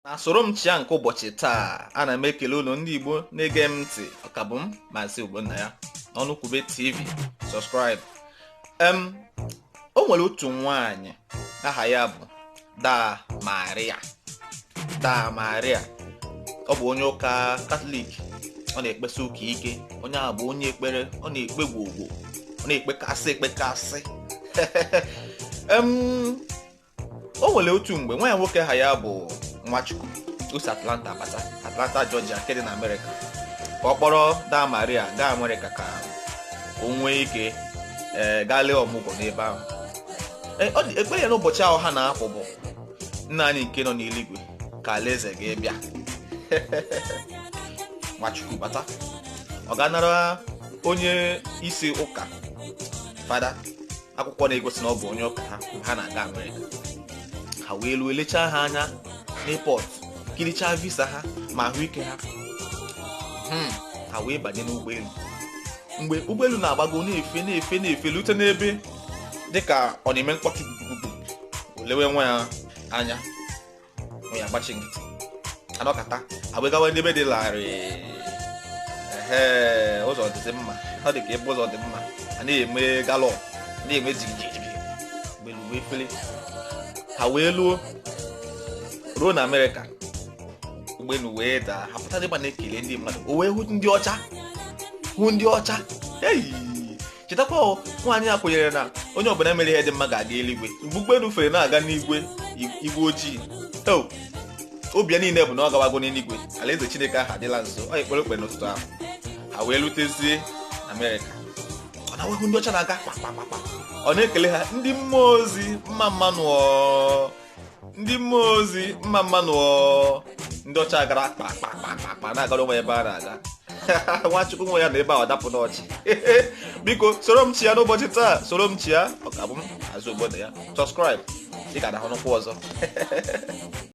na soro m chịa nke ụbọchị taa ana m ekele unu ndị Igbo na-ege m ntị ọ ka bụ m Maazị Ogbonnaya n'Ọnụkwube TV sọskraịbụ em o nwere otu nwaanyị aha ya bụ Daa Maria Daa Maria ọ bụ onye ụka katọlik ọ na-ekpesi ụka ike onye ahụ bụ onye ekpere ọ na-ekpe gwogwo ọ na-ekpekasị ekpekasị o nwere otu mgbe nwa ya nwoke aha ya bụ Nwachukwu o si Atlanta bata Atlanta Georgia nke dị na Amerịka ka ọ kpọrọ Daa Maria gaa Amerịka ka o nwee ike ee gaa lee ọmụgwọ n'ebe ahụ Ee, ọ dị- ekpere ya n'ụbọchị ahụ ha na-apụ bụ nna anyị nke nọ n'eluigwe ka alaeze gị bịa Nwachukwu bata ọ gaa nara onye isi ụka fada akwụkwọ na-egosi na ọ bụ onye ụka ha mgbe ha na-aga amerịka ha wee luo e lechaa ha anya n'epọt kirichaa visa ha ma ahụike ha hmm, ha wee banye n'ụgbọelu mgbe ụgbọelu na-agbago na-efe na-efe na-efe lute n'ebe dịka ọ na-eme mkpọtụ gugugugu o lewe nwa ya anya ya agbachi nkịtị a nọkata agbagawa n'ebe dị larịị ee ụzọ dịzi mma ọ dị ka ebe ụzọ dị mma a na-eme galọp na-eme jigijigi ụgbọelu wee fere ha wee luo ruo na amerịka ụgbọelu wee daa ha pụta dịgba na-ekele ndị mmadụ o wee hụ ndị ọcha hụ ndị ọcha eyi chetakwa o nwaanyị a kwenyere na onye ọbụla mere ihe dị mma ga-aga eluigwe mgbe ụgbọelu fere na-aga n'igwe igwe ojii o obi ya niile bụ na ọ gawago n'eluigwe alaeze chineke ahụ adịla nso ọ ekpere o kpere n'ụtụtụ ahụ ha wee lutezie amerịka o wee hụ ndị ọcha na-aga kpakpakpakpa ọ na-ekele ha ndị mmụọ ozi mma mma nụ o ndị mmụọ ozi mma mma nụ ndị ọcha agara kpa kpa kpa kpa na-agara onwe ha ebe ha na-aga nwachukwu nwa ya nọ ebe ahụ dapụ n'ọchị biko soro m chịa n'ụbọchị taa soro m chịa ọ ka bụ m Maazị Ogbonnaya sọskraịb ị ga na-ahụkwu ọzọ